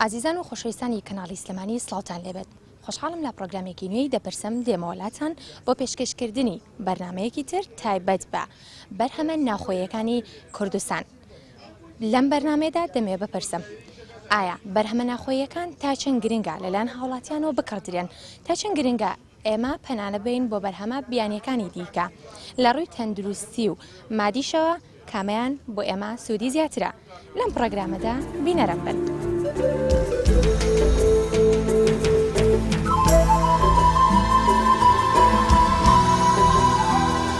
ئازیزان و خۆشەویستانی کەناڵی سلێمانی سڵاوتان لێبێت خۆشحاڵم لە پرۆگرامێکی نوێی دەپرسم دێمەوەلاتان بۆ پێشکەشکردنی بەرنمەیەکی تر تایبەت بە بەرهەمە ناخۆیەکانی کوردستان لەم بەرنمێدا دەمێ بپرسم ئایا بەرهەمە ناخۆیەکان تا چەند گرنگە لەلایەن هاوڵاتیانەوە بکڕدرێن تا چەند گرنگە ئێمە پەنانەبەین بۆ بەرهەمە بیانییەکانی دیکە لە ڕووی تەندروستی و مادیشەوە کامەیان بۆ ئێمە سوودی زیاترە لەم پڕۆگرامەدا بینەرم بن.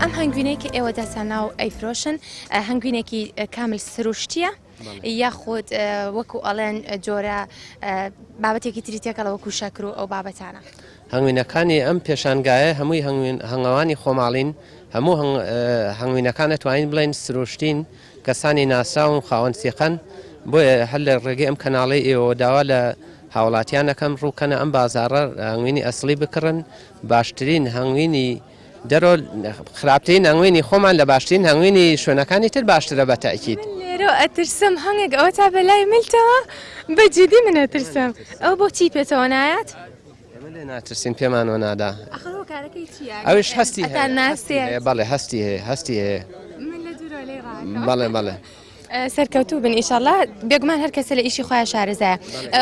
ئەم هەنگوینەی کە ئێوە داتانناو ئەیفرۆشن هەنگوینێکی کامل سروشتیە یاخود وەکو ئەڵێن جۆرە بابەتێکی تری تێکەڵە وەکو شەکر و ئەو بابەتانە هەنگوینەکانی ئەم پێشانگایە هەمووی هەنگەوانی خۆماڵین هەموو هەنگوینەکانە توانین بڵێن سروشتین کەسانی ناسراون خاوەن سیقەن بۆیە هەر لە ڕێگەی ئەم کەناڵی ئێوە داوا لە هاوڵاتیانەکەم ڕووکەنە ئەم بازارڕ هەنگوینی ئەسڵی بکڕن باشترین هەنگوینی دەرۆ خراپترین هەنگوینی خۆمان لە باشترین هەنگوینی شوێنەکانی تر باشترە بە تەئکید. لێرۆ ئەترسم هەنگێک ئەوە تا بەلای ملتەوە بە جدی من ئەترسم ئەوە بۆ چی پێتەوە نایات؟ ئێمە لێ ناترسین پێمان وە نادا. ئەخر هۆ کارەکەی چیە؟ ئەوش هەستی هەیە. ئەتان ناسێت. بەڵێ هەستی هەیە هەستی هەیە. من لە دوورەوە لێی ڕاکەم. بەڵێ بەڵێ. سەرکەوتوو بن ئیشەڵا بێگومان هەر کەسە لە ئیشی خۆیان شارەزایە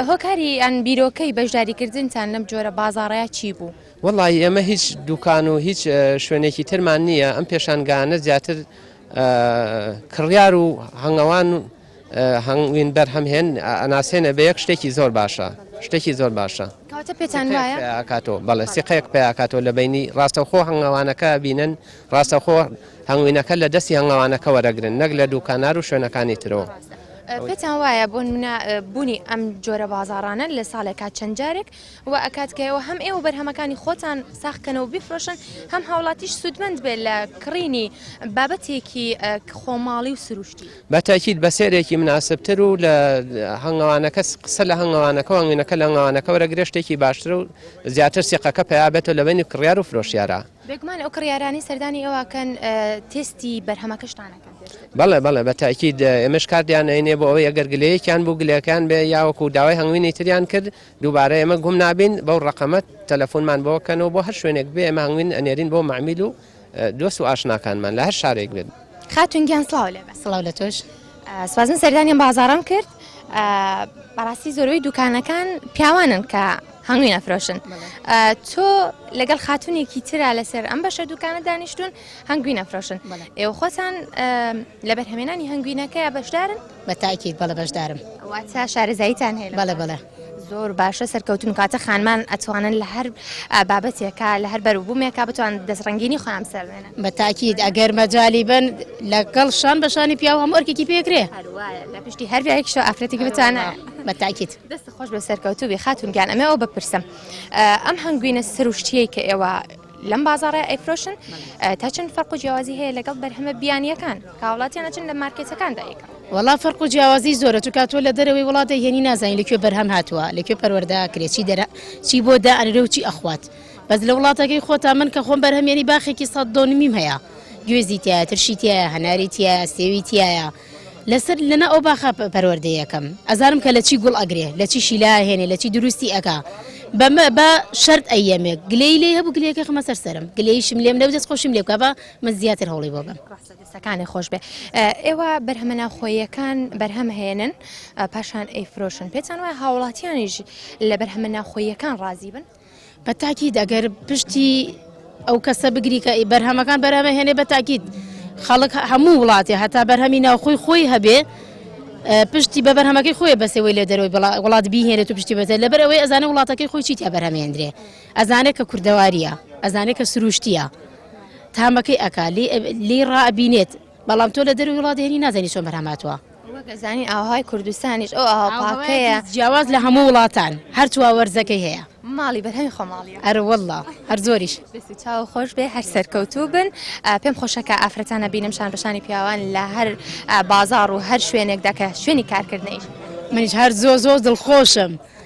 هۆکاری یان بیرۆکەی بەشداریکردنتان لەم جۆرە بازاڕەیا چی بوو؟ وەڵایی ئێمە هیچ دوکان و هیچ شوێنێکی ترمان نییە ئەم پێشانگانە زیاتر کڕیار و هەنگەوان هەنگوین بەرهەم هێن ئەناسێنە بە یەک شتێکی زۆر باشە شتێکی زۆر باشە کاتە پێتان کاتۆ بەڵێ سیقەیەک پیاکاتۆ لە بینی ڕاستەخۆ هەنگەوانەکە بینن ڕاستەخۆ هەنگوینەکە لە دەستی هەنگەوانەکە وەرەگرن نەک لە دووکانار و شوێنەکانی ترەوە پێتان وایە بۆن منە بوونی ئەم جۆرە بازارانە لە ساڵێکا چەند جارێک وا ئەکات کە ئێوە هەم ئێوە بەرهەمەکانی خۆتان ساغ کەنەوە بیفرۆشن هەم هاوڵاتیش سوودمەند بێت لە کڕینی بابەتێکی خۆماڵی و سروشتی. بە تەئکید بە سێرێکی مناسبتر و لە هەنگەوانەکە قسە لە هەنگەوانەکە و هەنگوینەکە لە هەنگەوانەکە وەرەگرێ شتێکی باشتر و زیاتر سیقەکە پەیا بێتەوە لە بەینی کڕیار و فرۆشیارا. بێگومان ئەو کڕیارانەی سەردانی ئێوە ئەکەن تێستی بەرهەمەکەشتان ئەکەن. بەڵێ بەڵێ بە تەئکید ئێمەش کاردیان ئەینێ بۆ ئەوەی ئەگەر گلەیەکیان بوو گلەکەیان بێ یا وەکوو داوای هەنگوینی تریان کرد، دووبارە ئێمە گوم نابین بەو ڕەقەمە تەلەفونمان بۆ کەن و بۆ هەر شوێنێک بێ ئێمە هەنگوین ئەنێرین بۆ مەعمیل و دۆست و ئاشناکانمان لە هەر شارێک بێت. خاتون گیان سڵاو لێبێ. سڵاو لە تۆش. سوازن سەردانیان بازاڕم کرد بەڕاستی زۆربەی دوکانەکان پیاوانن کە هەنگوین ئەفرۆشن تۆ لەگەڵ خاتونێکی تررا لەسەر ئەم بەشە دوکانە دانیشتون هەنگوین ئەفرۆشن ئێوە خۆتان لە بەرهەمێنانی هەنگوینەکە بەشدارن بە تاکید بەڵێ بەشدارم. واتە شارەزاییتان هەیە لەم بەڵێ بابەتە؟ بەڵێ. زۆر باشە سەرکەوتون کاتە خانمان ئەتوانن لە هەر بابەتێکا لە هەر بەروبوومێکا بتوان دەست ڕەنگینی خۆیان بسەر بێنن. بە تاکید ئەگەر مەجالی بن لەگەڵ شان بە شانی پیاو هەموو ئەرکێکی پێ ئەکرێ. هەر وایە لە پشتی هەر پیاوێکیشەوە ئافرەتێکی بتوانە. بە تاکید. دەست خۆش بێ سەرکەوتوو بی خاتون گیان ئەمێ ئەوە بپرسم ئەم هەنگوینە سروشتیەی کە ئێوە لەم بازاڕە ئەیفرۆشن تا چەند فەرق و جیاوازی هەیە لەگەڵ بەرهەمە بیانیەکان کاوڵاتیان ئەچن لە مارکێتەکاندا یکەم. وەڵا فەرق و جیاوازی زۆرە چونکە تۆ لە دەرەوەی وڵات دەیهێنی نازانی لەکوێ بەرهەم هاتووە لەکوێ پەروەردە ئەکرێ چی دەرە چی بۆ دائەنرێ و چی ئەخوات بەس لە وڵاتەکەی خۆتان من کە خۆم بەرهەمێنی باخێکی سەد دۆنمیم هەیە گوێزی تایە ترشی تایە هەناری تایە سێوی تایە لەسەر لەنا ئەو باخە پەروەردەی یەکەم ئەزانم کە لە چی گوڵ ئەگرێ لە چی شیلا هێنێ لە چی دروستی ئەکا بەمە بە شەرت ئەیەمێک گلەی لێ هەبوو گلەکە خمە سەر سەرم گلەیشم لێم نەو دەست خۆشم لێ بکە بە من زیاتر هەوڵی بۆ بم ڕاستەکانی خۆش بێ ئێوە بەرهەمە ناوخۆیەکان بەرهەم هێنن پاشان ئەیفرۆشن پێتان وای هاوڵاتیانیش لە بەرهەمە ناوخۆیەکان ڕازی بن بە تاکیت ئەگەر پشتی ئەو کەسە بگری کە بەرهەمەکان بەرهەمە هێنێ بە تاکیت خەڵک هەموو وڵاتێ هەتا بەرهەمی ناوخۆی خۆی هەبێ پشتی بە بەرهەمەکەی خۆی بەسەوەی لە دەرەوەی وڵات بهێنێت و پشتی بەتە لەبەر ئەوەی ئەزانە وڵاتەکەی خۆی چیتیا بەرهەمێندرێ ئەزانێت کە کوردەواریە ئەزانێت کە سروشتیە تامەکەی ئەک لی ڕابینێت بەڵام تۆ لە دەروی وڵات هێنی نازانی چۆن بەرهەماتوە وەک ئەزانین ئاوەهای کوردستانیش ئەو ئاوە پاکەیە. جیاواز لە هەموو وڵاتان هەر چوا وەرزەکەی هەیە. ماڵی بەرهەمی خۆماڵییە. ئەرە واللە هەر زۆریش. دەست و چاو خۆش بێ هەر سەرکەوتوو بن پێم خۆشە کە ئافرەتان ئەبینم شان بە شانی پیاوان لە هەر بازاڕ و هەر شوێنێکدا کە شوێنی کارکردنە ئیش بکەن. منیش هەر زۆر زۆر دڵخۆشم.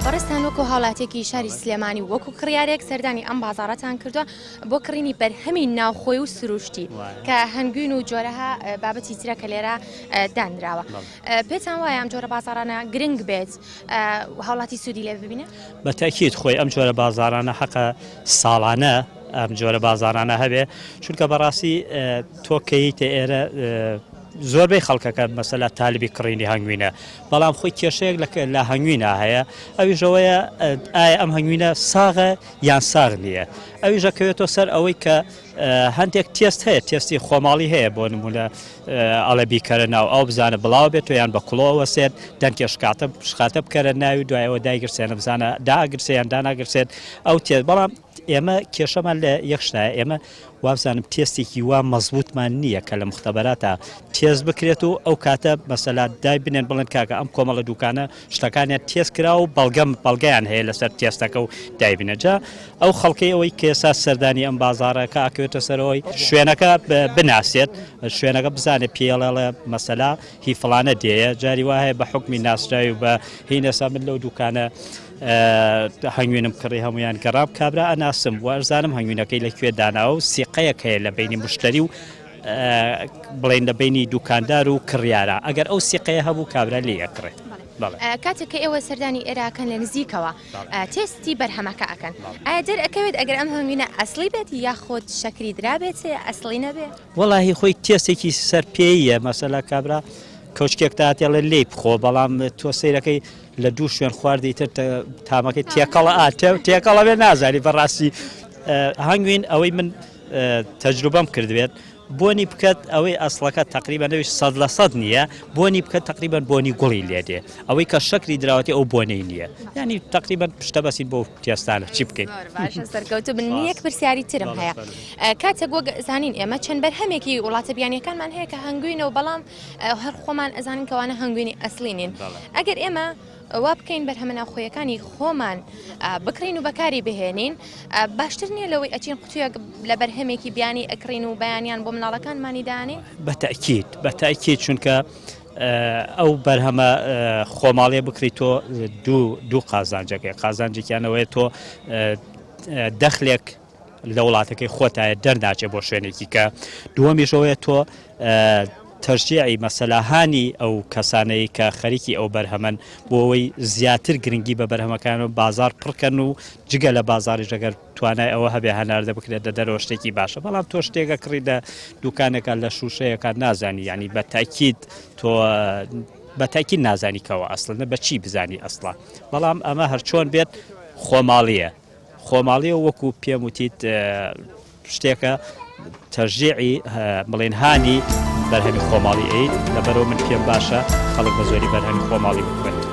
بەڕێزتان وەکو هاوڵاتیەکی شاری سلێمانی وەکو کڕیارێک سەردانی ئەم بازارەتان کردووە بۆ کڕینی بەرهەمی ناوخۆی و سروشتی کە هەنگوین و جۆرەها بابەتی ترە کە لێرە دانراوە پێتان وایە ئەم جۆرە بازارانە گرنگ بێت هاوڵاتی سوودی لێ ببینێت بە تاکیت خۆی ئەم جۆرە بازارانە حەقە ساڵانە ئەم جۆرە بازارانە هەبێ چونکە بەڕاستی تۆکەیتە ئێرە زۆربەی خەڵکەکە مەسەلا تالبی کڕینی هەنگوینە بەڵام خۆی کێشەیەک لە کە- لە هەنگوینا هەیە ئەویش ئەوەیە ئە، ئایا ئەم هەنگوینە ساغە یان ساغ نییە ئەویش ئەکەوێتەوە سەر ئەوەی کە ئە، هەندێک تێست هەیە تێستی خۆماڵی هەیە بۆ نموونە ئە، ئەڵێ بیکەرە ناو ئاو بزانە بڵاوە بێتەوە یان بە کوڵۆ ئەوەسێت دەنکێ شکاتە شخاتە بکەرە ناوی دوای ئەوە دایگرسێنە بزانە دائەگرسێ یان داناگرسێت ئەو تێ بەڵام ئێمە کێشەمان لە یەک شتایە، ئێمە وابزانم تێستێکی وا مەزبوتمان نییە کە لە مختبەراتا تێست بکرێت و ئەو کاتە مەسەلا دای بنێن بڵێن کاکە ئەم کۆمەڵە دوکانە شتەکانیان تێست کرا و بەڵگەم بەڵگەیان هەیە لەسەر تێستەکە و دایبنەجا ئەو خەڵکەی ئەوەی کێسا سەردانی ئەم بازارەکە ئاکەوێتە سەرەوەی شوێنەکە بناسێت شوێنەکە بزانێت پێڵێڵە مەسەلا هی فلانە دێە جاری وایە بە حکمی ناسراوی بە هینەسا من لەو دوکانە هەنگوینم کڕی هەموویان گەڕام کابرا ئەناسم وەرزانم هەنگوینەکەی لە کوێ داناوە و سیقەیەک هەیە لە بینی مشتری و بڵێن لە بینی دوکاندار و کڕیارە ئەگەر ئەو سیقەیە هەبوو کابرا لێ یەکڕێت کاتێک کە ئێوە سەردانی ئێراکەن لە نزیکەوە تێستی بەرهەمەکە ئەکەن ئایا دەر ئەکەوێت ئەگەر ئەم هەنگوینە ئەسلی بێت یا خۆت شەکری درابێت ئەسلی نەبێت وەڵی خۆی تێستێکی سەر پێیە مەسەلا کابرا کەوچکێک تاتێڵە لی بخۆ بەڵام تۆ سیرەکەی لە دوو شوێن خواردی تر تامەکەی تێکەڵە تێکەڵە بێ نازانی بەڕاستی هەنگوین ئەوەی من تەجروبەم کردوێت بۆنی بکات ئەوەی ئەسڵەکە تقریبا نەویش سەد لە سەد نییە بۆنی بکە تقریبان بۆنی گوڵی لێدێ ئەوەی کە شکری دراوەتی ئەو بۆنەی نییە ینی تقریبا پشتە بەسی بۆ تێستانە چی بکەین سەرکەوتو بن یەک پرسیاری ترم هەیە کاتێک وەک زانین ئێمە چەند بەرهەمێکی وڵاتە بیانیەکانمان هەیە کە هەنگوینەوە بەڵام هەر خۆمان ئەزانین کەوانە هەنگوینی ئەسلی نین ئەگەر ئێمە وا بکەین بەرهەمە ناوخۆیەکانی خۆمان بکرین و بەکاری بهێنین باشتر نییە لەوەی ئەچین قوتویەک لە بەرهەمێکی بیانی ئەکرین و بەیانیان بۆ مناڵەکانمانی دانین بەتەکیت بەتاکیت چونکە ئەو بەرهەمە خۆماڵێ بکریت تۆ دوو دوو قازانجەکەی قازانجێکیانەوەی تۆ دەخلێک لە وڵاتەکەی خۆتایە دەرناچێ بۆ شوێنێکی کە دووەمیش ئەوەیە تۆ تەرجیعی مەسەلاهانی ئەو کەسانەی کە خەریکی ئەو بەرهەمەن بۆ ئەوەی زیاتر گرنگی بە بەرهەمەکان و بازار پڕکەن و جگە لە بازاری ژەگەر توانای ئەوە هەبێ هەناردە بکرێت دە دەرەوە شتێکی باشە بەڵام تۆ شتێکە کڕی دە دوکانەکان لە شووشەیەکان نازانی ینی بە تاکیت تۆ بەتاکی نازانیکەوە ئەسڵە بە چی بزانی ئەسڵە بەڵام ئەمە هەرچۆن بێت خۆماڵیە خۆماڵیەوە وەکو پێم وتیت شتێکە تەژیعی بڵین هانی بەرهەمی خۆماڵی ئەیت لەبەرەوە من پێم باشە خەڵک بە زۆری بەرهەمی خۆماڵی بکوێت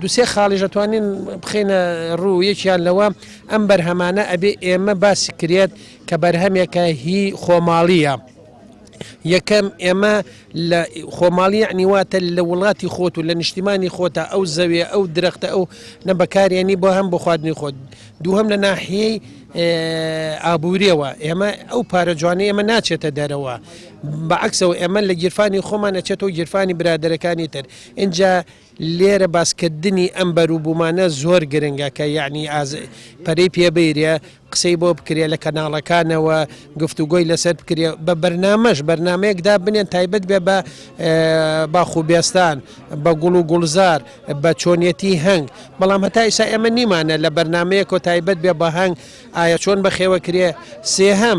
دوسێ خاڵیش ئەتوانین بخینە ڕوو یەکیان لەوە ئەم بەرهەمانە ئەبێ ئێمە باسی کرێت کە بەرهەمێکە هی خۆماڵیە. یەکەم ئێمە لە خۆماڵی نیواتە لە وڵاتی خۆت و لە نیشتیمانی خۆتا ئەو زەوێ ئەو درەختە ئەو نە بەکارێنی بۆ هەم بۆ خواردنی خۆت دووهم لە ناحیەی ئابووریەوە ئێمە ئەو پارە جوانە ئێمە ناچێتە دەرەوە بە عەکسەوە ئێمە لە گیرفانی خۆمان ئەچێتەوە گیرفانی برادەرەکانی تر ئینجا لێرە باسکردنی ئەم بەروبوومانە زۆر گرنگە کە یعنی ئاز پەرەی پێبیرێ قسەی بۆ بکرێ لە کەناڵەکانەوە گفتوگۆی لەسەر بکرێ بە بەرنمەش بەرنمەیەکدا بنێن تایبەت بێ بە باخ و بێستان بە گوڵ و گوڵزار بە چۆنیەتی هەنگ بەڵام هەتا ئیسا ئێمە نیمانە لە بەرنمەیەکۆ تایبەت بێ بە هەنگ ئایا چۆن بەخێوە کرێ سێهەم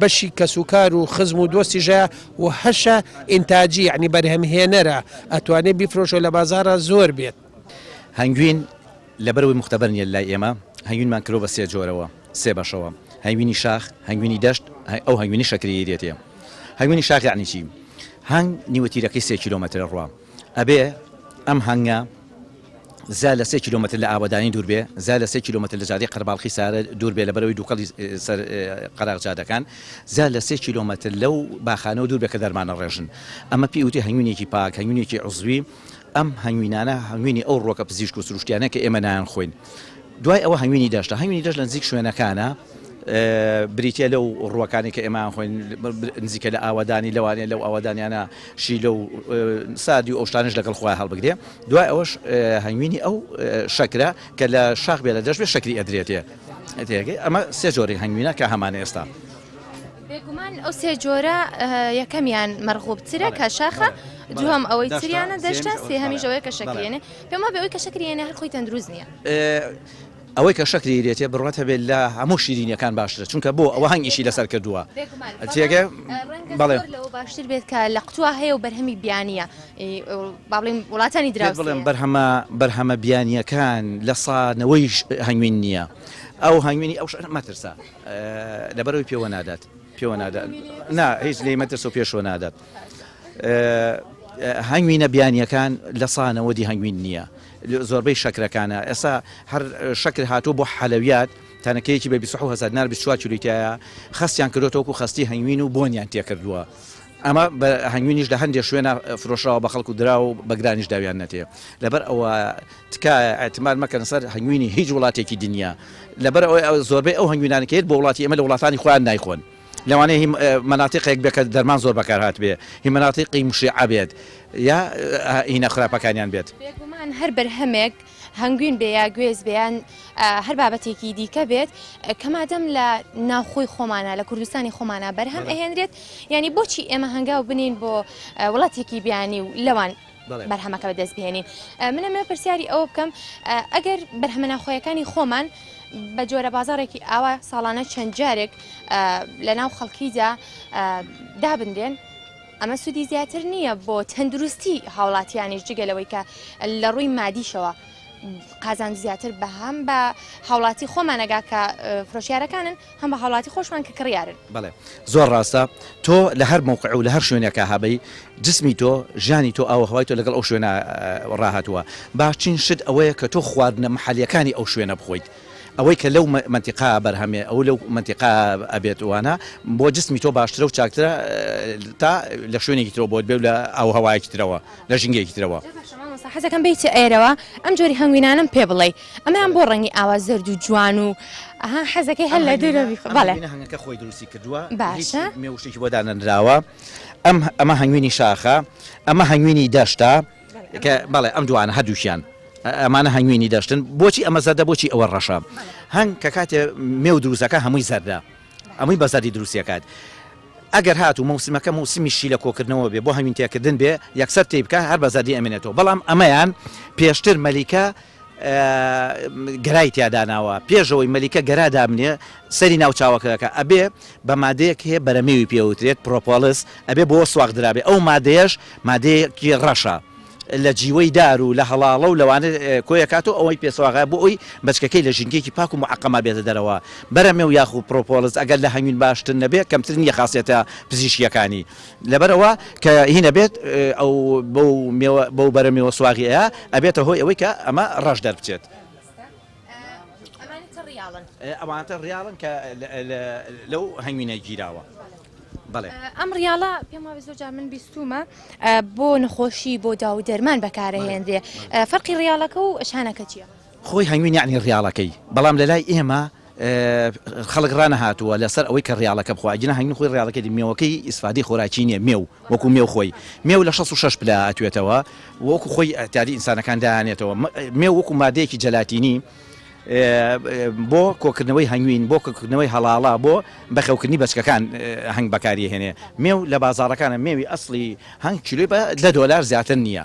بەشی کەسوکار و خزم و دۆستیش هەیە و هەشە ئینتاجی یەعنی بەرهەمهێنەرە ئەتوانێت بیفرۆشۆ لە بازاڕا زۆر بێت. هەنگوین لەبەر ئەوەی موختەبەر نیە لای ئێمە هەنگوینمان کردوە بە سێ جۆرەوە سێ بەشەوە هەنگوینی شاخ هەنگوینی دەشت هەی ئەو هەنگوینی شەکریی دێتێ هەنگوینی شاخ یەعنی چی هەنگ نیوەتیرەکەی سێ کیلۆمەترە ڕوا ئەبێ ئەم هەنگە زا لە سێ کیلۆمەتر لە ئاوەدانی دوور بێ، زا لە سێ کیلۆمەتر لە جادەی قەرەباڵخی سارە دوور بێ لەبەرەوەی دووکەڵی سەر قەراغ جادەکان، زا لە سێ کیلۆمەتر لەو باخانەوە دوور بێ کە دەرمانە ڕێژن. ئەمە پێی وترێ هەنگوینێکی پاک، هەنگوینێکی عوزوی. ئەم هەنگوینانە هەنگوینی ئەو ڕووەکە پزیشک و سروشتیانەیە کە ئێمە نایانخۆین. دوای ئەوە هەنگوینی دەشتە. هەنگوینی دەشت لە نزیک شوێنەکانە. بریتیە لەو ڕووەکانی کە ئێمە ئەخۆین نزیکە لە ئاوەدانی لەوانەیە لەو ئاوەدانیانە شیلە و ساردی و ئەو شتانش لەگەڵ خۆیان هەڵبگرێ دوای ئەوەش هەنگوینی ئەو شەکرە کە لە شاخ بێ لە دەشت بێ شەکری ئەدرێتێ تێگەی ئەمە سێ جۆری هەنگوینە کە هەمان ئێستا بێگومان ئەو سێ جۆرە یەکەمیان مەرغوبترە کە شاخە دووەم ئەوەی تریانە دەشتە سێهەمیشەوەی کە شەکرێنێ پێما بەوەی کە شەکرێنە هەر خۆی تەندروست نییە ئەوەی کە شەکری لێتێ بڕوات هەبێت لە هەموو شیرینیەکان باشترە چونکە بۆ ئەوە هەنگ ئیشی لەسەر کردووە تێگە بەڵێ لەوە باشتر بێت کە لە قوتوا هەیە و بەرهەمی بیانە باڵین وڵاتانی درا بڵێم بەرهەمە بەرهەمە بیانیەکان لە سانەوەیش هەنگوین نییە ئەو هەنگوینی ئەو شەر مەترسە لەبەرەوەی پێوە نادات پێوە نادات نا هیچ لێ مەترس و پێشوە نادات هەنگوینە بیانیەکان لە سانەوەدی هەنگوین نییە زۆربەی شەکرەکانە ئێستا هەر شەکر هاتووە بۆ حەلەویات تەنەکەیەکی بە بیست و حەوت هەزار دینار بیست و چوار کیلۆی تیایە خەستیان کردووەتە وەکو خەستی هەنگوین و بۆنیان تێکردووە ئەمە بە هەنگوینیش لە هەندێک شوێنا فرۆشراوە بە خەڵک و دراوە و بە گرانیش داویان نەتێ لەبەر ئەوە تکایە ئیعتماد مەکەن سەر هەنگوینی هیچ وڵاتێکی دنیا لەبەر ئەوەی زۆربەی ئەو هەنگوینانە کە یەت بۆ وڵاتی ئێمە لە وڵاتانی خۆیان نایخۆن. لەوانەیە هی مەناتیقێک بێت کە دەرمان زۆر بەکار هاتبێت، هی مەناتیقی موشیعە بێت یا هینە خراپەکانیان بێت. بێگومان هەر بەرهەمێک هەنگوین بێ یا گوێز بێ یان هەر بابەتێکی دیکە بێت کە مادەم لە ناوخۆی خۆمانە لە کوردستانی خۆمانە بەرهەم ئەهێنرێت یانی بۆچی ئێمە هەنگاو بنێین بۆ وڵاتێکی بیانی و لەوان بەرهەمەکە بەدەست بهێنین من ئەمە پرسیاری ئەوە بکەم ئەگەر بەرهەمە ناخۆیەکانی خۆمان بە جۆرە بازارێکی ئاوا ساڵانە چەند جارێک لە ناو خەڵکیدا دابنرێن ئەمە سوودی زیاتر نییە بۆ تەندروستی هاوڵاتیانیش جگەلەوەی کە لە ڕووی مادیشەوە قازان زیاتر بەهام بە هاوڵاتی خۆمانەگا کە فرۆشیارەکانن هەم بە هاوڵاتی خۆشمان کە کڕیارن. بەڵێ زۆر ڕاستە تۆ لە هەر مەوقع و لە هەر شوێنێکا هەبی جسمی تۆ ژیانی تۆ ئاو و هەوای تۆ لەگەڵ ئەو شوێنە ڕاهاتووە باشترین شت ئەوەیە کە تۆ خواردنە محەلیەکانی ئەو شوێنە بخۆیت ئەوەی کە لەو مەنتیقا بەرهەمێ ئەو لەو مەنتیقا ئەبێت وانە بۆ جسمی تۆ باشترە و چاکترە تا لە شوێنێکی ترەوە بۆت بێ و لە ئاو و هەوایەکی ترەوە لە ژینگەیەکی ترەوە. جا باشە مامۆستا حەزەکەم بێیتە ئێرەوە ئەم جۆری هەنگوینانەم پێ بڵێی. ئەمەیان بۆ ڕەنگی ئاوا زەرد و جوان و ئەها حەزەکەی هەر لە دوورە بیخ بەڵێ هەنگەکە خۆی دروستی کردووە باشە مێوشێکی بۆ دانەنراوە ئەم ئەمە هەنگوینی شاخە ئەمە هەنگوینی دەشتا کە بەڵێ ئەم دوانە هەردووشیان ئەمانە هەنگوینی دەشتن بۆچی ئەمە زەردە بۆچی ئەوە ڕەشە هەنگ کە کاتێ مێو دروستەکە هەمووی زەردە ئەمەی بەزەری دروستیەکات ئەگەر هات و موسیمەکە موسیمی شی لە کۆکردنەوە بێ بۆ هەوین تێکردن بێ یەکسەر تێی بکە هەر بە زەدی ئەمێنێتەوە بەڵام ئەمەیان پێشتر مەلیکە گەرای تیا داناوە پێش ئەوەی مەلیکە گەرا دابنێ سەری ناو چاوەکەکە ئەبێ بە مادەیەک هەیە بەرەمێوی پێ ئەوترێت پرۆپۆلس ئەبێ بۆ سواغ درابێ ئەو مادەیەش مادەیەکی ڕەشە لە جیوەی دار و لە هەڵاڵە و لەوانە کۆی ئەکات و ئەوەی پێ سواغە بۆ ئەوی بەچکەکەی لە ژینگەیەکی پاک و معەقەما بێتە دەرەوە بەرەمێو یاخو پرۆپۆلس ئەگەر لە هەنگوین باشتر نەبێ کەمتر نییە خاسیەتە پزیشکیەکانی لەبەر ئەوە کە هین ئەبێت ئەو بەو مێوە بەو بەرە مێوە سواغی ئەیا ئەبێتە هۆی ئەوەی کە ئەمە ڕەش دەربچێت. ئەوانتە ڕیاڵن کە لەو هەنگوینە گیراوە. ئەم ڕیاڵە پێم وابێ زۆر جار من بیستومە بۆ نەخۆشی بۆ داو دەرمان بەکارە هێنرێ فەرقی ڕیاڵەکە و شانەکە چیە؟ خۆی هەنگوین یەعنی ڕیاڵەکەی بەڵام لەلای ئێمە خەڵک ڕانەهاتووە لەسەر ئەوەی کە ڕیاڵەکە بخوا ئەگینا هەنگوین خۆی ڕیاڵەکەی مێوەکەی ئیسفادەی خۆراکی نیە مێو وەکو مێو خۆی مێو لە شەست و شەش پلە ئەتوێتەوە وەکو خۆی ئەتاری ئینسانەکان دایانێتەوە مێو وەکو مادەیەکی جەلاتینی بۆ کۆکردنەوەی هەنگوین بۆ کردنەوەی هەڵاڵە بۆ بەخەوکردنی بەچکەکان هەنگ بەکاریهێنێ مێو لە بازاڕەکانە مێوی ئەسڵی هەنگ کیلۆی بە دە دۆلار زیاتر نییە.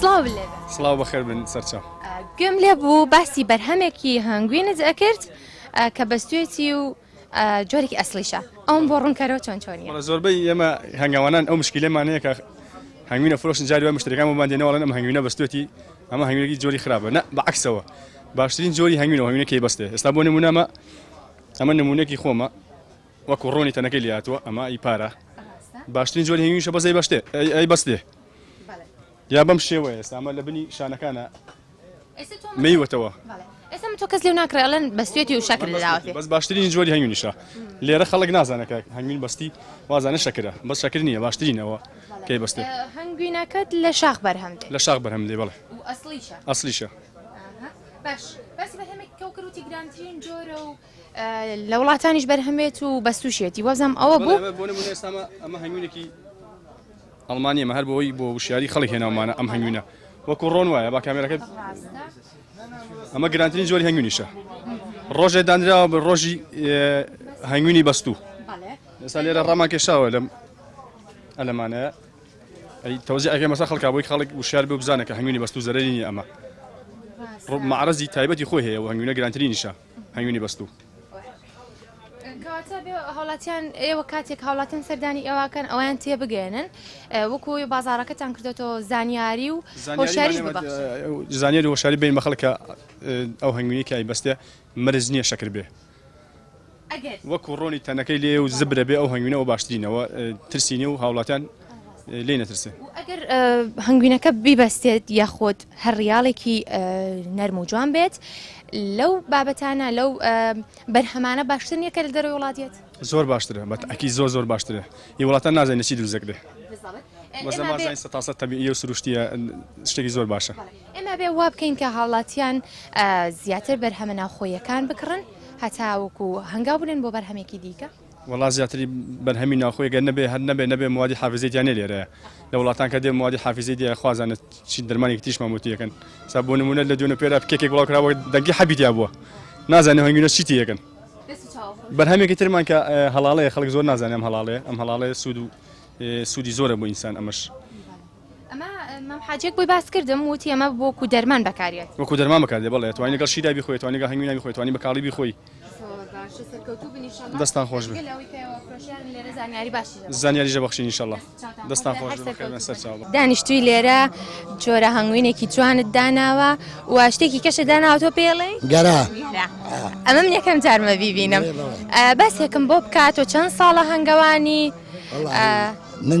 سڵاو لێ سڵاو بەخێر بن سەرچە گوێم لێ بوو باسی بەرهەمێکی هەنگوینت ئەکرد کە بەستێتی و جۆرێکی ئەسلیشە ئەوم بۆ ڕوونکەرەوە چۆن چۆنی زۆربەی ئێمە هەنگاوانان ئەو مشکلەمانەیە کە هەنگوینە فرۆشن جاری وای مشتەکان ومان دێنەوەڵێن ئەم هەنگوینە بەستێتی ئەمە هەنگوێکی جۆری خراپە نە بەعکسەوە باشترین جۆری هەنگوینەوە هەنگوینەکەی بەستێ ئێستا بۆ نمونەمە ئەمە نمونونەکی خۆمە وەکو ڕۆنی تەنەکەی لێهاتووە ئەمە ئەی پارە باشترین جۆری هەویشە بەزەی بەشتێ ئەی بەستێ یا بەم شێوە ئێستا ئەمە لە بنی شانەکانە مەیوەتەوە ئێستا تۆ کەس لێو ناکرێت ئەلەن بەستێتی و شەکر لەداوەێ بەس باشترین جۆری هەنگوینیشە لێرە خەڵک نازانەکە هەنگوین بەستی وازانە شەکرە بە شەکر نییە باشترینەوە کەی بەستێ هەنگوینەکەت لە شاخ بەرهەم لە شاخ بەرهەم لێ بڵێ ئەسلیشە باش بەس بە هەمێک کەوکروتی گرانترین جۆرە و لە وڵاتانیش بەرهەم بێت و بەستوشێتی وەزم ئەوە بوو بەڵێ، بۆ نموونە ئێستا ئەمە ئەمە هەنگوینێکی ئەڵمانییە ئەمە هەر بۆی بۆ وشیاری خەڵک هێناومانە ئەم هەنگوینە وەکوو ڕۆن وایە با کامێراکە ڕاستە ئەمە گرانترین جۆری هەنگوینیشە ڕۆژێ دانراوە بە ڕۆژی ئێ، هەنگوینی بەستوو بەڵێ ئێستا لێرە ڕامان کێشاوە لەم ئەلەمانەیە ئەی تەوزیعەکەی مەسە خەڵکا بۆی خەڵک وشیار بێ و بزانێ کە هەنگوینی بەستوو زەرەری نییە ئەمە ڕاستە ڕۆ مەعرەزی تایبەتی خۆی هەیە و هەنگوینە گرانترینیشە هەنگوینی بەستوو. کەواتە بێ هاوڵاتیان ئێوە کاتێک هاوڵاتیان سەردانی ئێواکەن ئەویان تێبگەێنن وەکوی بازارەکەتان کردێتەوە زانیاری و هۆشاری زانیاری هۆشاری بین مەخەڵکە ئەو هەنگوینی کای بەستێ مرز نییە شەکر بێ وەکو ڕۆنی تەنەکەی لێ و زبرە بێ ئەو هەنگوینەوە باشترینەوە ترسینی و هاوڵاتیان لێی نەترسێ و ئەگەر هەنگوینەکە بیبەستێت یاخۆت هەر ڕیاڵێکی نەرم و جوان بێت لەو بابەتانە لەو بەرهەمانە باشتر نییە کە لە دەرەوە وڵاتێت زۆر باشترە بە تاکی زۆر زۆر باشترە هی وڵاتان نازانێت چی دروست دەکرێت مەزە مازای سە تاسە تەبیعی و سروشتیە شتێکی زۆر باشە ئێمە بێ وا بکەین کە هاوڵاتیان زیاتر بەرهەمە ناوخۆیەکان بکڕن هەتاوەکو هەنگاو بنێن بۆ بەرهەمێکی دیکە وەڵا زیاتری بەرهەمی ناوخۆی گەر نەبێ هەر نەبێ نەبێ موادی حافزەی تیا نیە لێرەیە لە وڵاتان کە دێ موادی حافزەی دیە خوازانێت چی درمانێکی تریش مامۆتیەکەن سا بۆ نمونە لە دوێنە پێرا کێکێک بڵاو کراوە دەنگی حەبی تیا بووە نازانێ هەنگوینە چی تیەکەن بەرهەمێکی ترمان کە هەڵاڵەیە خەڵک زۆر نازانێ ئەم هەڵاڵێ ئەم هەڵاڵێ سوود و سوودی زۆرە بۆ ئینسان ئەمەش ئەمە مام حاجیەک بۆی باس کردم وتی ئەمە بۆکو دەرمان بەکاریێت وەکو دەرمان بەکاردێ بەڵێ توانی لەگەڵ شیدا بیخۆی توانی لەگەڵ هەنگوینا بیخۆی توانی بە کاڵی بیخۆی دەستان خۆش زانیاری ژە بەخشین انشاءالله دەستان خۆش دانیشتوی لێرە جۆرە هەنگوینێکی جوانت داناوە و شتێکی کەشە داناوە تۆ پێڵێ گەرا ئەمە من یەکەم جارمە بیبینم بەسێکم بۆ بکات و چەند ساڵە هەنگەوانی من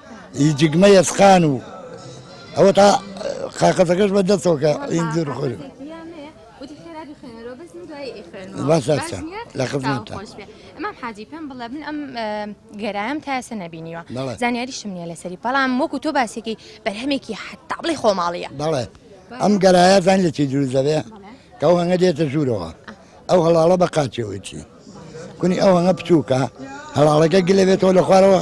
ی جگمە یەسقان و ئەوە تا قاقەتەکەش بە دەستەوەکە ئیندر خۆر لە خزمەت ئەمام حاجی پێم بڵێ من ئەم گەرایم تاسە نەبینیوە زانیاریشم نیە لەسەری بەڵام وەکو تۆ باسێکی بەرهەمێکی حتا بڵی خۆماڵیە بەڵێ ئەم گەرایە زان لە چی دروست دەبێ کە ئەو هەنگە دێتە ژوورەوە ئەو هەڵاڵە بە قاچەوەی چی کونی ئەو هەنگە بچووکە هەڵاڵەکە گلەبێتەوە لە خوارەوە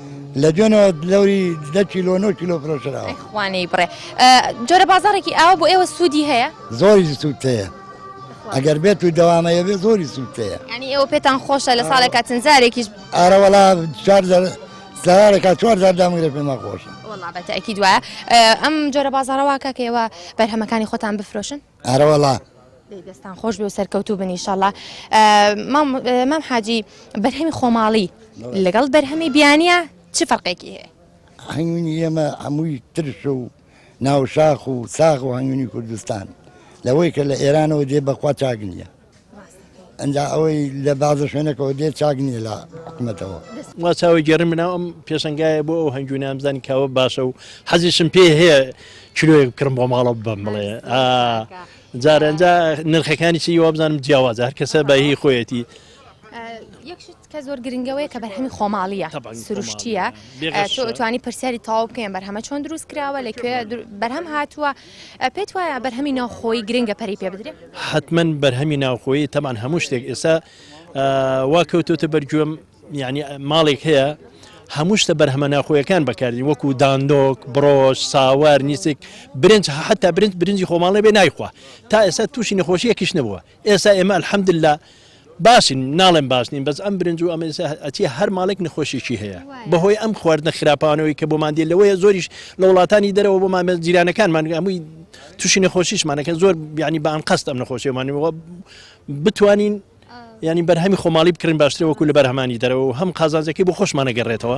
لە دوێنێوە دلەوری دە کیلۆ نۆ کیلۆ فرۆشراوە. ئەی خوا نەیبڕێ ئا جۆرە بازاڕێکی ئاوا بۆ ئێوە سوودی هەیە؟ زۆری سوود هەیە بەخوا. ئەگەر بێت و دەوامەیە بێ زۆری سوود هەیە. یانی ئێوە پێتان خۆشە لە ساڵێکا چەند جارێکیش. ئارە وەڵا چوار جار سارێکا چوار جار دامگرێ پێمان خۆشە. وەڵا بە تەئکید وایە ئەم جۆرە بازاڕە وا کاکە ئێوە بەرهەمەکانی خۆتان بفرۆشن؟ ئەرەوەڵا. دەی دەستان خۆش بێ و سەرکەوتوو بن ئیشەڵا مام حاجی بەرهەمی خۆماڵی لەگەڵ بەرهەمی بیانە چ فەرقێکی هەیە هەنگوینی ئێمە هەمووی ترش و ناوشاخ و ساغ و هەنگوینی کوردستان لەوەی کە لە ئێرانەوە دێ بەخوا چاک نییە ئەنجا ئەوەی لە بازە شوێنەکەەوە دێت چاک نییە لە حکومەتەوە وا چاوی گەڕم بناو ئەم پێشنگایە بۆ ئەو هەنگوی نامزانی کاوە باشە و حەزیشم پێ هەیە کلۆیەک بکڕم بۆ ماڵە بم بڵێ جارەنجا نرخەکانی چی وابزانم جیاوازە هەر کەسە بەهی خۆیەتی کە زۆر گرنگە وەیە کە بەرهەمی خۆماڵیە سروشتیە توانی پرسیاری تاو بکەین بەرهەمە چۆن دروست کراوە لەکوێ بەرهەم هاتووە پێت وایە بەرهەمی ناوخۆی گرنگە پەری پێ بدرێت حتمما بەرهەمی ناوخۆی تەمان هەموو شتێک ئێستا وا کەوتوتە بەرگوێم یعنی ماڵێک هەیە هەموو شتە بەرهەمە ناخۆیەکان بەکاردی وەکو داندۆک بڕۆژ ساوار نیسک برنج حتا برنج برنجی خۆماڵێ بێ نایخوا تا ئێستا تووشی نەخۆشیەکیش نەبووە ئێستا ئێمە الحمدللە باشین ناڵێم باش نین بەس ئەم برنج و ئەمە ئێستا ئەچی هەر ماڵێک نەخۆشیی هەیە بەهۆی ئەم خواردنە خراپانەوەی کە بۆمان دێ لەوەیە زۆریش لە وڵاتانی دەرەوە بۆمان بە جیرانەکانمان هەمووی تووشی نەخۆشیشمانەکە زۆر بیانی بە ئەنقەست ئەم نەخۆشیمانەوە بتوانین ینی بەرهەمی خۆماڵی بکڕین باشترە وەکو لە بەرهەمانی دەرەوە و هەم قازانجەکەی بۆ خۆشمانەگەڕێتەوە.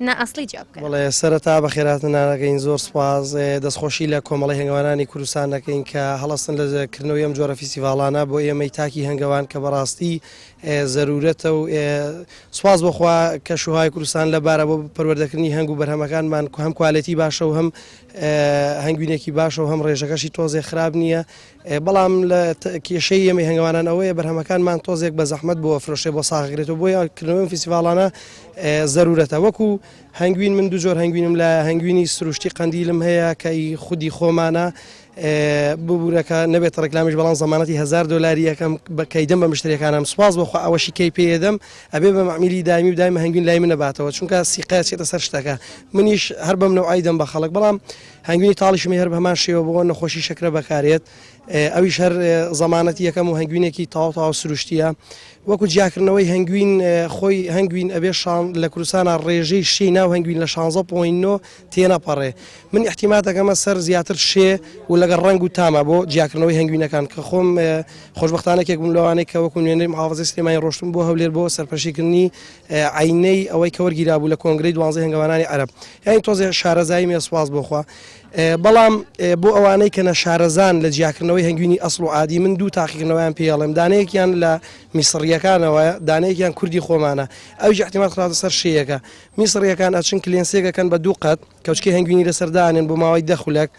نا ئەسڵی جیا بکەن. بەڵێ سەرەتا بەخێر هاتن نانەکەین زۆر سوپاس دەستخۆشی لە کۆمەڵی هەنگەوانانی کوردستان دەکەین کە هەڵستن لە کردنەوەی ئەم جۆرە فیسیڤاڵانە بۆ ئێمەی تاکی هەنگەوان کە بەڕاستی زەرورەتە و سوپاس بۆخوا کە شوهای کوردستان لە بارە بۆ پەروەردەکردنی هەنگ و بەرهەمەکانمان هەم کوالێتی باشە و هەم هەنگوینێکی باشە و هەم ڕێژەکەشی تۆزێ خراپ نییە بەڵام لە کێشەی ئێمەی هەنگەوانان ئەوەیە بەرهەمەکانمان تۆزێک بە زەحمەت بۆ فرۆشێ بۆ ساغگرێتەوە بۆ یانکردنەوەی فیسیڤالانە زەرورەتە وەکو هەنگوین من دو جۆر هەنگوینم لە هەنگوینی سروشتی قندیلم هەیە کە خودی خۆمانە ببوورەکە نەبێت ڕێکلامیش بەڵام زمانەتی هزار دلاری یەکەم بەکەیدەم بە مشتێکانم سوپاس بۆخوا ئەوەشی کەی پێدەم ئەبێ بە معمیلی دامی و دایم هەنگوین لای منەباتەوە چونکە سیقاچێتە سەر شتەکە منیش هەر بەم نەوعیدەم بە خەڵک بەڵام هەنگوینی تاڵیشمی هەر بەهەمان شێوە بۆ نەخۆشی شەکرە بەکارێت ئەویش هەر زەمانەتی یەکەم و هەنگوینێکی تاو تاو سروشتیە وەکو جیاکردنەوەی هەنگوین خۆی هەنگوین ئەبێ شان لە کوردستانە ڕێژەی شی ناو هەنگوین لە 16.9 تێنەپەڕێ من احتیماتەکەمە سەر زیاتر شێ و لەگەڵ ڕنگ و تامە بۆ جیاکردنەوەی هەنگوینەکان کە خۆم خۆشببختانێکێک بووم لەوانەیە کە وەکو نوێنەری محافظی سلێمانی ڕۆشتم بۆ هەولێر بۆ سەرپەشیکردنی عەینەی ئەوەی کە وەرگیرابوو لە کۆنگرەی دوانزەی هەنگەوانانی عەرەب یانی تۆزێ شارەزایی مێ سوپاس بۆ خوا بەڵام بۆ ئەوانەی کە نەشارەزان لە جیاکردنەوەی هەنگوینی ئەسڵ و عادی من دوو تاقیکردنەوەیان پێڵێم دانەیەکیان لە میسڕیەکانەوە دانەیەکیان کوردی خۆمانە ئەویش احتیمال خراوەتە سەر شێیەکە میسڕیەکان ئەچن کلێنسێکەکەن بە دوو قەت کەوچکەی هەنگوینی لەسەر دانێن بۆ ماوەی دە خولەک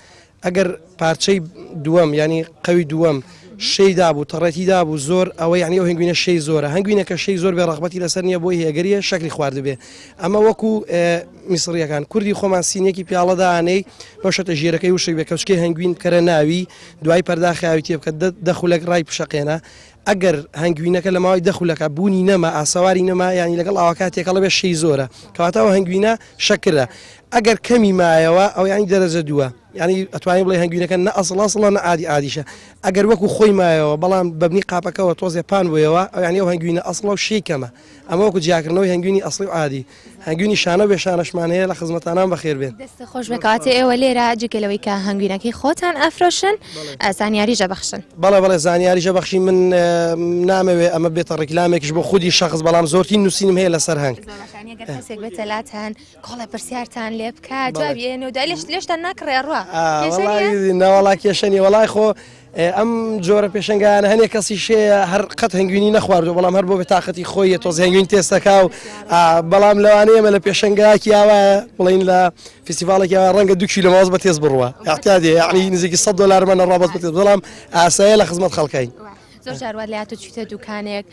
ئەگەر پارچەی دووەم ینی قەوی دووەم شەی دابوو تەڕێتی دابوو زۆر ئەوە یعنی ئەو هەنگوینە شەی زۆرە هەنگوینەکە شەی زۆر بێ ڕغبەتی لەسەر نییە بۆی هێگەریە شەکری خواردبێ ئەمە وەکو میسریەکان کوردی خۆمان سینێکی پیاڵەدانەی بەشەتە ژێرەکەی وشک بێ کەچکەی هەنگوین کەرە ناوی دوای پەرداخیاوی تێ بکە دەخولەک ڕای پشەقێنە ئەگەر هەنگوینەکە لە ماوەی دە خولەکە بوونی نەما ئاسەواری نەما یانی لەگەڵ ئاوەکە تێکەڵە بێ شەی زۆرە کەواتە ئەو هەنگوینە شەکرە ئەگەر کەمی مایەوە ئەو یانی دەرەجە دووە یعنی ئەتوانین بڵێ هەنگوینەکە نە ئەسڵ ئەسڵە نە عادی عادیشە ئەگەر وەکو خۆی مایەوە بەڵام بەبنی قاپەکەەوە تۆزێ پان بوویەوە ئەو یانی ئەو هەنگوینە ئەسڵە و شەی کەمە ئەمە وەکو جیاکردنەوەی هەنگوینی ئەسڵی و عادی هەنگوینی شانە بێ شانەشمان هەیە لە خزمەتانان بەخێر بێن دەستە خۆش بکاتێ ئێوە لێرە جگەلەوەی کە هەنگوینەکەی خۆتان ئەفرۆشن ئەسانیاریژە بەخشن بەڵێ بەڵێ زانیاریژە بەخشی من نامەوێ ئەمە بێتە ڕیکلامێکش بۆ خودی شخص بەڵام زۆرتی نووسینم هەیە لەسەر هەنگ تەلاتان کۆڵە پرسیارتان لێ بکات جوابێن و دالشت لێشتان ناکڕێڕوە ناوەڵا کێشەنی وڵای خۆ ئێ ئەم جۆرە پێشەنگایانە هەنێ کەسیش هەیە هەر قەت هەنگوینی نەخواردوە بەڵام هەر بۆ بێتاقەتی خۆیە تۆزێ هەنگوین تێست دەکا و بەڵام لەوانەیە ئێمە لە پێشەنگایەکی ئاوا بڵین لە فیستیڤاڵێکی ئاوا ڕەنگە دوو کیلۆ ماوەز بە تێز بڕوە اعتیادیە یعنی نزیکی 100 دۆلارمانە ڕابەت بەتێز بەڵام ئاسایە لە خزمەت خەڵکین. زۆر جار وا لات و چیتە دوکانێک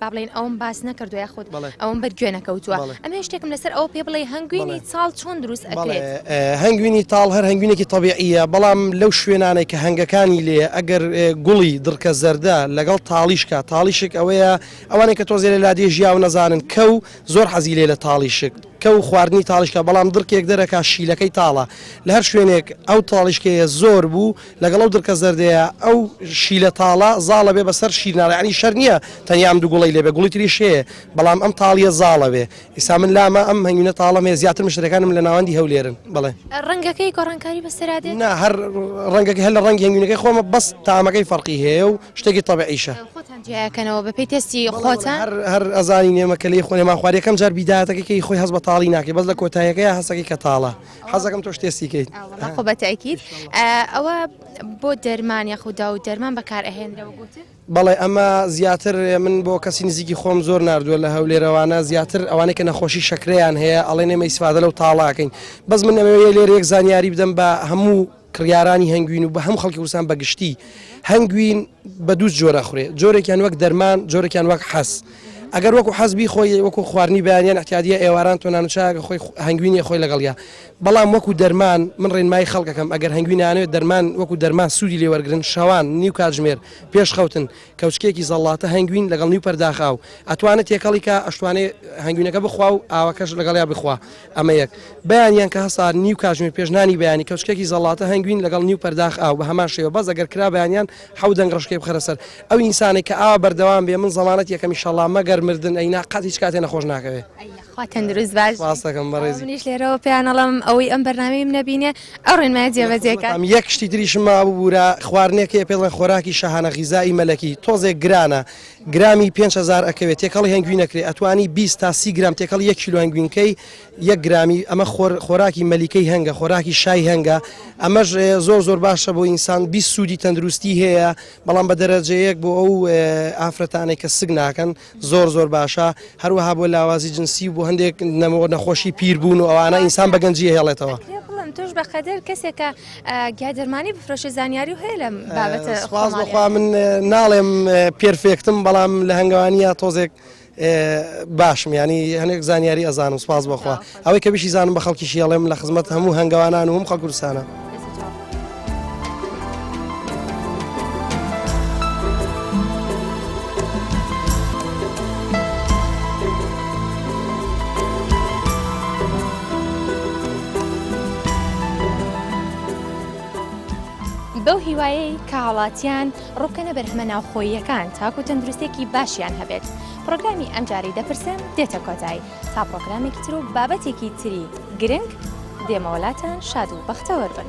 با بڵێین ئەوەم باس نەکردووە یاخود ئەوەم بەر گوێ نەکەوتووە ئەمێ شتێکم لەسەر ئەوە پێ بڵێ هەنگوینی چاڵ چۆن دروست ئەکرێت هەنگوینی تاڵ هەر هەنگوینێکی طبیعە بەڵام لەو شوێنانێک کە هەنگەکانی لێ ئەگەر گوڵی دڕکە زەردە لەگەڵ تاڵیشکە تاڵیشک ئەوەیە ئەوانێک کە تۆزێ لە لادێ ژیاو نەزانن کە و زۆر حەزی لێ لە تاڵیشک کە و خواردنی تاڵیشکە بەڵام دڕکێک دەرەکە شیلەکەی تاڵە لە هەر شوێنێک ئەو تاڵیشکەیە زۆر بوو لەگەڵ ئەو دڕکە زەردەیە ئەو شیلە تاڵە زاڵە بێ بەسەر شیر ناڵێ یانی شەر نییە تەنیا ئەم دوو گوڵەی لێ بێ گوڵی تریش هەیە بەڵام ئەم تاڵییە زاڵە بێ ئیستا من لامە ئەم هەنگوینە تاڵەم هەیە زیاتر مشتەکانم لە ناوەندی هەولێرن بڵێ ڕەنگەکەی گۆڕانکاری بەسەرا دێت نا هەر ڕەنگەکەی هەر لە ڕەنگی هەنگوینەکەی خۆمە بەس تامەکەی فەرقی هەیە و شتێکی تەبعیشە خۆتان جیاکەنەوە بە پێی تێستی خۆتان هەر هەر ئەزانی نێمە کە لێی خۆێ ماخوارد یەکەم جار بیداتەکەی کەی خۆی هەست بە تاڵی ناکەی بەس لە کۆتایەکەی هەستەکەی کە تاڵە حەزەکەم تۆش تێستی کەیت خۆ بە تاکیت ئەوە بۆ دەرمان یاخودا و دەرمان بەکار ئەهێنرە بەڵێ ئەمە زیاتر من بۆ کەسی نزیکی خۆم زۆر نردووە لە هەولێرەوانە زیاتر ئەوانەی کە نەخۆشی شکریان هەیە ئەڵێ نێمە ئیسفادە لەو تاڵاکەین بەس من ئەمەوەیە لێر یەک زانیاری بدەم بە هەموو کڕیارانی هەنگوین و بە هەم خەڵکی وسان بەگشتی هەنگوین بە دوو جۆر ئەخورێ جۆرێکیان وەک دەرمان جۆرێکیان وەک حەز ئەگەر وەکو حەز بیخۆی وەکو خواردنی بەیانیان احتیادیە ئێواران تۆ نانوچاکە خۆی هەنگوینی خۆی لەگەڵیا بەڵام وەکو دەرمان من ڕێنمایی خەڵکەکەم ئەگەر هەنگوینانەوێت دەرمان وەکو دەرمان سوودی لێ وەرگن شەوان نیو کاتژمێر پێش خەوتن کەوچکێکی زەڵاتە هەنگوین لەگەڵ نیو پەرداخاو ئەتوانێت تێکەڵیکە ئەشتوانێ هەنگوینەکە بخوا و ئاوەکەش لەگەڵیا بخوا ئەمە یەک. بەیانیان کە هەسار نیو کاژمێر پێش نانی بەیانی کەوچکێکی زەڵاتە هەنگوین لەگەڵ نیو پەرداخ ئاو بە هەمان شێوە بەس ئەگەر کرا بەیانیان حەو دەنگ ڕەشکەی بخەرە سەر ئەو ئینسانەی کە ئاوا بەردەوام بێ من زەمانەت یەکەم ئیشەڵا مەگەر مردن ئەینا قەت هیچ کاتێ نەخۆش ناکەوێ. خوا تەندروست باش سپاس دەکەم بەڕێزی. منیش لێرەوە پێیان ئەڵێم ئەوەی ئەم بەرنامەیەم نەبینێ ئەو ڕێنمایە جێبەجێ کات. بەڵام یەک شتی تریشم ماببورا خواردنێک هەیە پێڵێن خۆراکی شاهانە غیزائی مەلەکی تۆزێک گرانە گرامی پێنج هەزار ئەکەوێ تێکەڵی هەنگوین ئەکرێ ئەتوانی بیست تا سی گرام تێکەڵی یەک کیلۆ هەنگوین کەی یەک گرامی ئەمە خۆر خۆراکی مەلیکەی هەنگە خۆراکی شای هەنگە ئەمەش زۆر زۆر باشە بۆ ئینسان بیست سوودی تەندروستی هەیە بەڵام بە دەرەجەیەک بۆ ئەو ئافرەتانێک کە سگ ناکەن زۆر زۆر باشە هەروەها بۆ لاوازی جنسی بۆ هەندێک نەمەوە نەخۆشی پیر بوون و ئەوانە ئینسان بە گەنجی هێڵێتەوە. بەقەدر کەسێکە گیا دەرمانی بفرۆشێ زانیاری و هەیە لەم بابەتە سپاس بەخوا من ناڵێم پێرفێکتم بەڵام لە هەنگوانیە تۆزێک باشم ینی هەنێک زانیاری ئەزانم سپاس بەخوا ئەوەی کە بشی زانم بە خەڵکی شیڵێم لە خزمەت هەموو هەنگوانان و هەم خەکورسانە. بەو هیوایەی کە هاوڵاتیان ڕووبکەنە بەرهەمە ناوخۆییەکان تاکو تەندروستێکی باشیان هەبێت پرۆگرامی ئەمجارەی دەپرسێن دێتە کۆتایی تا پرۆگرامێکی تر و بابەتێکی تری گرنگ دێمەوەلاتان شاد و بەختەوەربن.